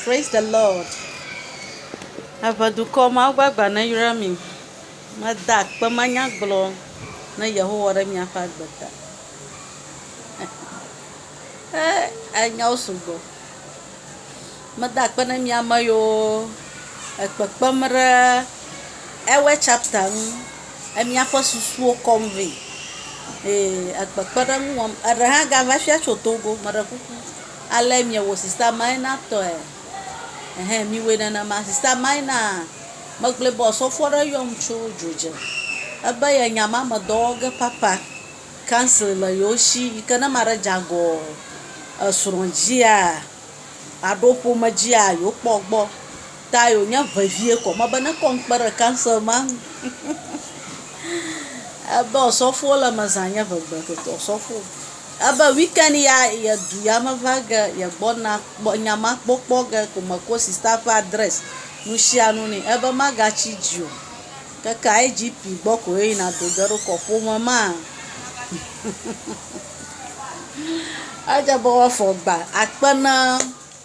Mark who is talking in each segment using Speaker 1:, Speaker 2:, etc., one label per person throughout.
Speaker 1: Praise the Lord. Eʋe dukɔ mawo ƒe agba neyra mi. Meda akpe manya gblɔ ne Yehowa ɖe miaƒe agbe ta. Eh, enyawo sugbɔ. Meda akpe ne mi ame yiwo ekpekpem ɖe ewe chapter ŋu. Emiaƒe susuwo kɔm vɛ. Ee, ekpekpeɖeŋu wɔm. Eɖe hã gava fia tso Togo, meɖe kuku. Ale miewɔ Sista Maina tɔe? Ɛhɛ̃, miwɔe nenema. Sista Maina megblɔe be ɔsɔfo aɖe yɔm tso dzodze. Ebe ye nya ma me dɔ wɔ ge papa. Council le yewo shi yi ke ne ame aɖe dze agɔ esrɔ̃ dzia alo ƒome dzia, yewokpɔ egbɔ. Ta yewonye vevie kɔ. Mebe nekɔ ŋukpe ɖe council ma ŋu. Ebe ɔsɔfo le eme zã nye ŋegbe toto ɔsɔfo. Ebe weekend ya ye du ya me va ge ye gbɔ na kpɔ nya ma kpɔ kpɔ ge ko me ko sista ƒe adress nusianu ne ebe ma ga tsi dzi o keke IGP gbɔ ko ye yina do ge ɖo kɔ ƒome ma edze be woa fɔ gba akpe na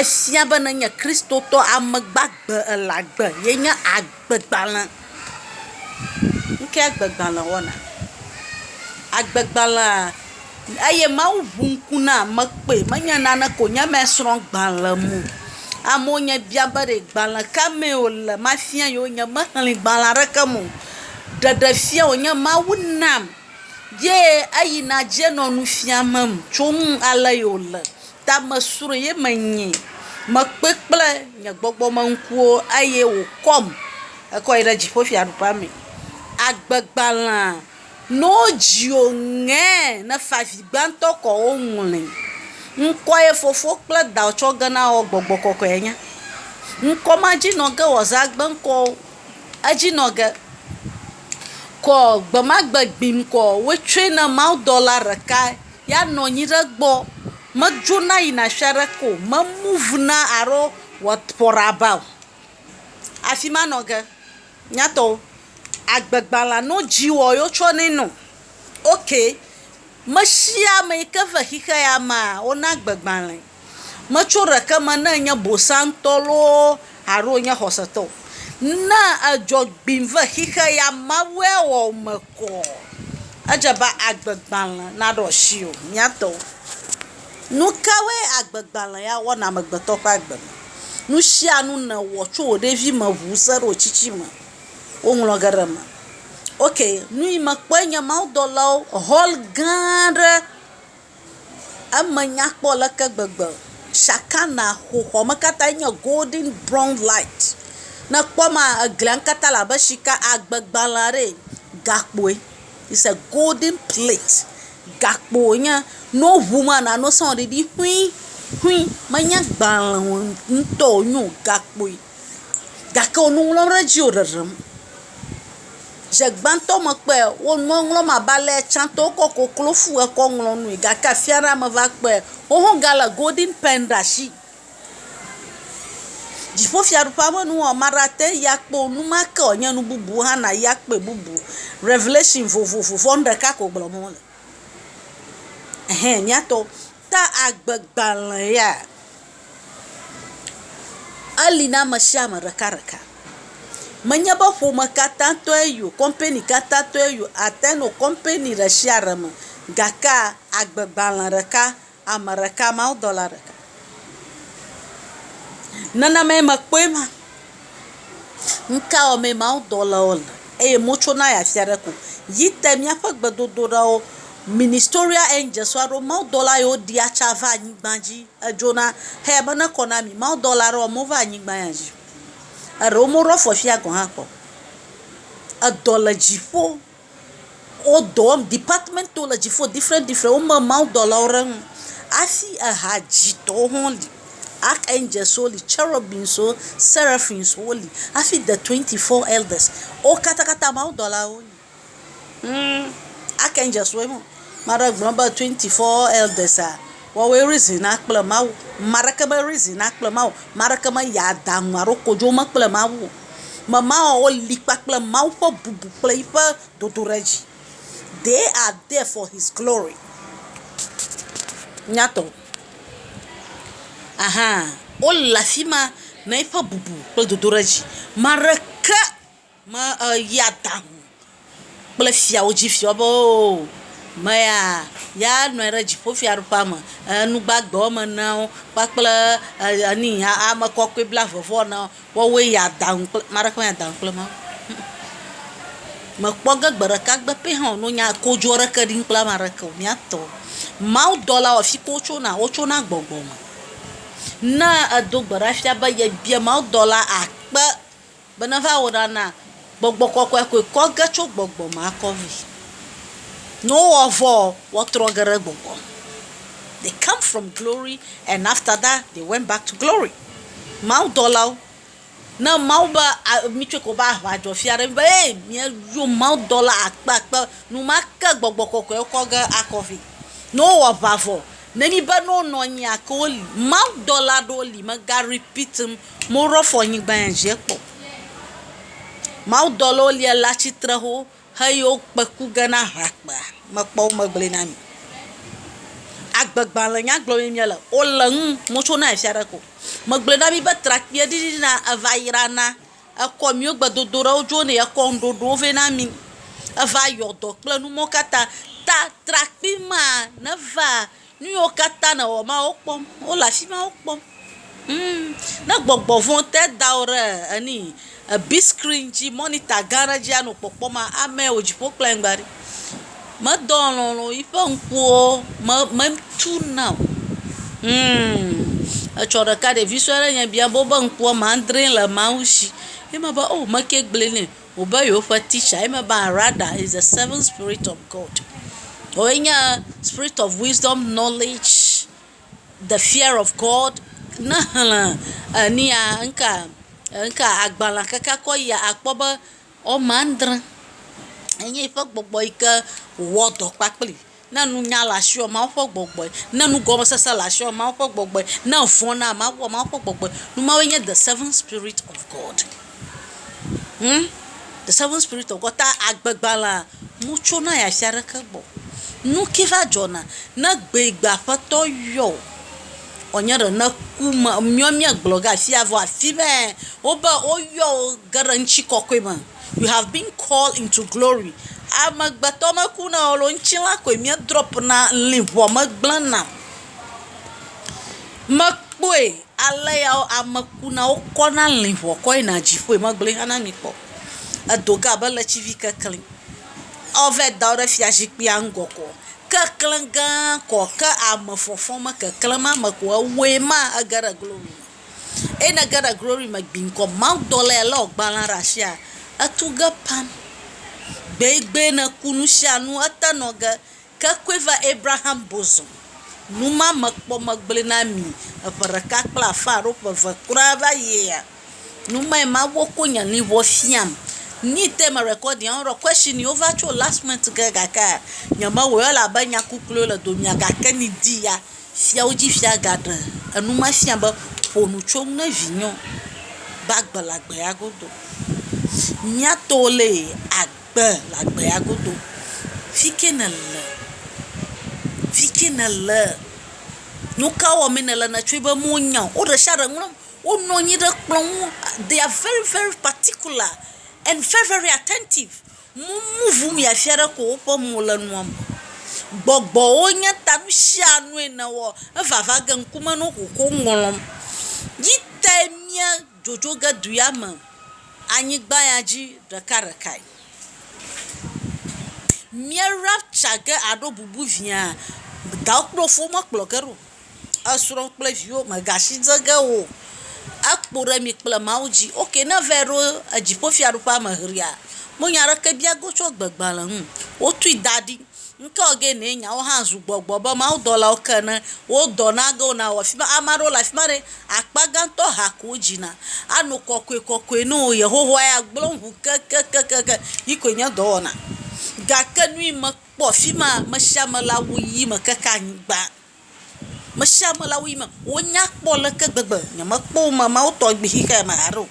Speaker 1: Efia be ne enye Kristotɔ ame gbagbe ele agbe ye nye agbegbalẽ. Nu kae agbegbalẽ wɔna? Agbegbalẽa, eye Mawu ŋu ŋku na ame kpɔe menye nane ko wonye eme srɔ̃ gbalẽ mo. Amewo nye bia be ɖe gbalẽ ka me wole mafia yewo. Nyemexlẽ gbalẽ aɖeke me o. Ɖeɖefia wonye Mawu nam ye eyi na dze nɔ nu fiam tso nu ale ye wole. Tamesrɔ̃ ye menyi. Mekpɔe kple nye gbɔgbɔ me ŋkuwo eye wòkɔm hekɔ yi ɖe dziƒofiaɖuƒea me. Agbegbalẽa, ne wodzi wò ŋɛɛ ne favi gbãtɔ kɔ woŋlɔe. Ŋkɔe fofo kple dawò tsɔ ge na wò gbɔgbɔ kɔkɔea nye. Ŋkɔ ma dzi nɔ ge wòazu agbe ŋkɔ wo. Edzi nɔ ge kɔ gbemagbe gbim kɔ woetsɔe na mawudɔla ɖekae. Ya nɔ anyi ɖe egbɔ. Medzona yina afi aɖeke o. Me muvna alo what for about. Afi ma nɔ ge. Nyatɔwo. Agbe gbalẽa no dziwɔ ye wo tsɔ nɛ nɔ. Ok. Mesiame yike ve xixe ya mea, wo na agbe gbalẽ. Metso ɖeke me ne ènye bosantɔ loo alo wònye xɔsetɔ o. Ne edzɔ gbim ve xixe ya Mawue wɔ ame kɔ. Edze be agbegbalẽ naɖo asiwò, mía tɔwo. Nu kawoe agbegbalẽ ya wɔ na amegbetɔ ƒe agbe me? Nu sia nu nèwɔ tso wò ɖevime ŋu se ɖe wò tsitsime, woŋlɔ ge ɖe eme. Ok, nu yi mekpɔe nye mawudɔlawo, hɔl gã aɖe. Eme nya kpɔ aleke gbegbe. Shakana xoxoa me katã nye golden brown light. Ne èkpɔ ema, eglia nu katã le abe sika agbe gbalẽ aɖe ene. Gakpoe, it's a golden plate. Gakpo wonye. Ne woŋu ema la, nane sɔŋ ɖiɖi ƒuii ƒuii. Menye gbalẽ ŋutɔ wonye o, gakpoe. gake wò nu ŋlɔm ɖe edzi wò ɖeɖem. Dze gbãtɔ me kpɔe wò nua ŋlɔm abe ale tsã tɔ wokɔ koklofu kɔ ŋlɔ nue gake afia ɖe me va kpɔe woho ga le golden pen ɖe asi. Dziƒofiaɖuƒea ƒe nu wɔwɔ ame aɖe ate ŋu ayi akpɔ wò nu ma ke wònye nu bubu hã nàyi akpɔe bubu. Revelation vovovo vɔ nu ɖeka ko gblɔm wole. Ehe mía tɔwo. Ta agbegbalẽ ya eli na ame sia ame ɖekaɖeka. Menye be ƒome katã tɔe yi o, kɔmpani katã tɔe yi o, ate ŋu anɔ kɔmpani ɖe sia ɖe me gakea agbegbalẽ ɖeka ame ɖeka mawudɔla ɖeka. Nenemae mekpɔe ma. Ŋkawɔmee mawudɔlawo le eye motsona ya fia ɖe ko. Yi te míaƒe gbedodoɖawo, ministoria angels alo mawudɔla yiwo ɖia tsa va anyigba dzi edzona heya be nekɔ na mi. Mawudɔla aɖewo mova anyigba ya dzi o. Eɖewo moɖo afɔ fia gɔ̃ hã kpɔ o. Edɔ le dziƒo. Wo dɔ wɔm, departmentwo le dziƒo different different wo me mawudɔlawo ɖe ŋu hafi eha dzitɔwo hã li. Arch angels wo li, cherubims wo, seraphims wo li hafi de twenty four elders wo katakata mawudɔlawo wo nyi. Hum arch angels woe ma. Ame aɖe gblɔ be twenty four elders a woawoe reasona kple mawu. Ame aɖeke me reasona kple mawu o. Ame aɖeke meya aɖaŋu alo kodzome kple mawu o. Memawɔwɔ li kpakple Mawu ƒe bubu kple eƒe dodoɖedzi. They are there for his glory. Nyatɔ? Aha, wole afi ma na eƒe bubu kple dodoɖedzi. Ame aɖeke meyia dãŋ kple fiawo dzi fiɔ be oo, meya ya nɔ anyi ɖe dziƒofiaɖuƒea me, enu gbagbe woame eneawo kpakple enu yi ame kɔkɔe blaeve vɔ eneawo woawoe yia danu kple ame aɖeke meyia danu kple Mawu o. Mekpɔ ge gbe ɖeka gbe pɛ hã wònɔ nya kodzro aɖeke ɖim kple ame aɖeke o. Mía tɔ mawudɔlawo afi ka wotsona? Wotsona gbɔgbɔ me. Ne èdo gbe ɖa fia be yebia mawudɔla akpe Be neva wɔ ɖa na Gbɔgbɔ Kɔkɔɛ koe kɔ ge tso gbɔgbɔ me akɔ vi. Ne wowɔ vɔ ɔ, woatrɔ ge ɖe gbɔgbɔ me. They come from glory and after that they went back to glory. Mawudɔlawo, ne Mawu be a mi tsɔe ko be aʋa dzɔ fia ɖe mi be ee mia yo mawudɔla akpe akpe numake Gbɔgbɔ Kɔkɔɛ kɔ ge akɔ vi. Ne wowɔ aʋa vɔ, ne mi be ne wonɔ anyi ake woli. Mawudɔla ɖewo li mega repeat ŋ Mo rɔ fɔ nyigba yɛ je kpɔ. Mawudɔlɔ wo lia la tsi tre ho he yewo kpeku ge na ha kpea me kpɔ wo me gblɔe na mi. Agbe gbãle nya gblɔ mi mia le wo le ŋu mo tso na efia ɖe ko. Me gblɔe na mi be trakpui ɖiɖi ɖi na eva yra na ekɔ miwo gbe dodo ɖe wo dzo ne ye kɔ ŋɖoɖo wo vɛ na mi. Eva yɔ dɔ kple nu mɔ kata ta trakpui ma ne va Nuyiwo katã nèwɔ ma, wokpɔm. Wole afi ma wokpɔm. Humm. Ne gbɔgbɔ vɔ̃ te da wò ɖe enu yi, big screen dzi, mɔnita gã aɖe dzi anɔ kpɔkpɔm maa, amɛ wò dziƒo kple anyigba ɖi. Medɔ alɔ̃ le wò. Yiƒe ŋkuwo me, metu na o. Humm. Etsɔ ɖeka, ɖevi sue aɖe nye biam be woƒe ŋku woame adree le Mawu shi. Ye mebe, oo, mekee gblɔe nɛ. Wobe yewoƒe teacher ye mebe Arada is the seventh spirit of God. Woe nye spirit of wisdom, knowledge, the fear of God. Ne exlẽ enia, ŋka, ŋka agbalẽa keke akɔ yia, akpɔ be woame adre enye eƒe gbɔgbɔ yi ke wòwɔ dɔ kpakpli. Ne nunya le asiwòa, Mawu ƒe gbɔgbɔe. Ne nugɔmesese le asiwòa, Mawu ƒe gbɔgbɔe. Ne vɔ̃ na ame wòa, Mawu ƒe gbɔgbɔe. Nu mawoe nye the seven spirit of God. Hum, the seven spirit of God. Ta agbegbalẽa, motsona yi afi aɖeke gbɔ. Nuke va dzɔna, ne egbegbe Aƒetɔ yɔ wò, wòanye ɖe ne ku me, míawo míegblɔ ge afia vɔ afi mɛ, wobe woyɔ wò ge ɖe ŋutikɔkɔe me. You have been called into glory. Amegbetɔ meku na o loo, ŋutilã koe mía drop na, luʋɔ megblẽ na. Mekpɔe ale ya wo ame ku na wo kɔ na luʋɔ kɔ yi na dziƒoe megblɔe hã na mi kpɔ. Edo ge abe ʋletivi keklẽ. Wo va yi da wo ɖe fia zikpuia ŋgɔ ko. Keklẽ gã kɔ ke ame fɔfɔ me keklẽ ma me ko ewɔe ma ege ɖe glory me. Eye ne ege ɖe glory me gbiŋkɔ mawudɔlae ele wò gbalẽa ɖe asia, etu ge pam. Gbegbee ne ku nusianu ete nɔ ge. Ke koe va Abraham bosom. Numa mekpɔ megblɔe na mi eƒe ɖeka kple afã alo ƒe eve kura va yia. Numae Mawu ko nye luʋɔ fiam. Nyi te me recording wo ɖɔ question yi wo va tso last month ge gakea nye me wɔe elabe nya kukluiwo le domea gake nyi di ya. Fiawo dzi fia gaɖe enu ma fia be ƒo nu tso ŋu ne vinyo be agbe le agbea godo. Mía to le agbe le agbea godo. Fike ne le? Fike ne le? Nuka wɔ me ne le netsɔe be me nya o. Wo ɖe sia ɖe ŋlɔ, wo nɔ anyi ɖe kplɔ ŋu. They are very very particular and very very attentive. Mmu ʋu miafia ɖe ko woƒe mo le nua me. Gbɔgbɔwo nye ta nusianue nèwɔ evava ge ŋkume no ʋu ko ŋlɔm. Yi tae mía dzodzo ge du ya me anyigba ya dzi ɖekaɖekae. Mía rapture ge aɖo bubu viaa, dawò kple wò fowo mekplɔ ge ɖo. esrɔ̃ kple viwo megasi dze ge o. Ekpo ɖe mi kple Mawu dzi. Ok, ne eva ɖo dziƒofiaɖuƒea me ʋlia, menya ɖeke bia go tso gbegbalẽ ŋu. Wotui da ɖi. Ŋke wɔ ge nɛ nyawo hã zu gbɔgbɔ be mawudɔlawo ke ene. Wo dɔ na ge wona wɔ afi ma. Ame aɖewo le afi ma ɖe, akpa gãtɔ ha ko wodzina. Ano kɔkɔekɔkɔe na wo. Yehowa ya gblẽ wo ŋu kekekekekeŋ. Yi koe nye dɔ wɔna. Gake nu yi mekpɔ afi maa, ame sia ame le awu ʋi me keke anyigba. Mesiame le awu yi me wonya kpɔ aleke gbegbe. Nyemekpɔ wo me mawo tɔ gbi xixeɛ me haɖe o.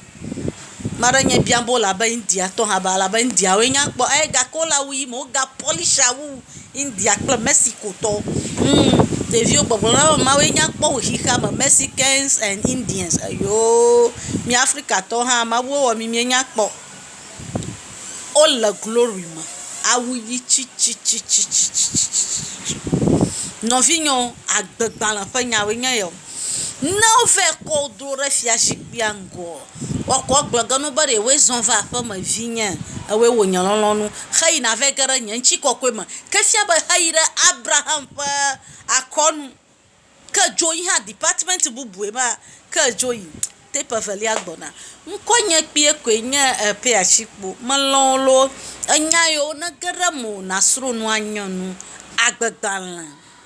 Speaker 1: Ame aɖe nye biam be wole abe Indiatɔ hã be alabe Indiawoe nya kpɔ eye gake wole awu yi me woga pɔlishi awu wu India kple Mɛsikotɔwo. Humm, ɖeviwo gbɔgblɔ na wo be mawoe nya kpɔ wu xixea me Mɛsikɛns ɛn Indiɛns. Eyoo, mí Afrikatɔwo hã mawuwo wɔ mí míenya kpɔ. Wole glory me. Awu ʋi tsitsitsitsitsitsitsi. Nɔvinyɔ, agbegbalẽ ƒe nyawoe nye ya o. Ne wova kɔ wo do ɖe fiazikpuia ŋgɔa, woakɔ agblɔ ge na wo be ɖewoe zɔ va aƒeme vinye, ewɔe wɔ nye lɔlɔ̃nu heyina va yi ge ɖe nye ŋutikɔkɔe me. Ke efia be eyi ɖe Abraham ƒe akɔnu. Ke dzo yi hã department bubue ma ke dzo yi tape evelia gbɔna. Ŋkɔ nye kpuie koe nye Epeatsikpo. Melɔ̃ wò loo. Enya yewo nege ɖe mewò nasrɔ̃ nu anye nu agbegbalẽ.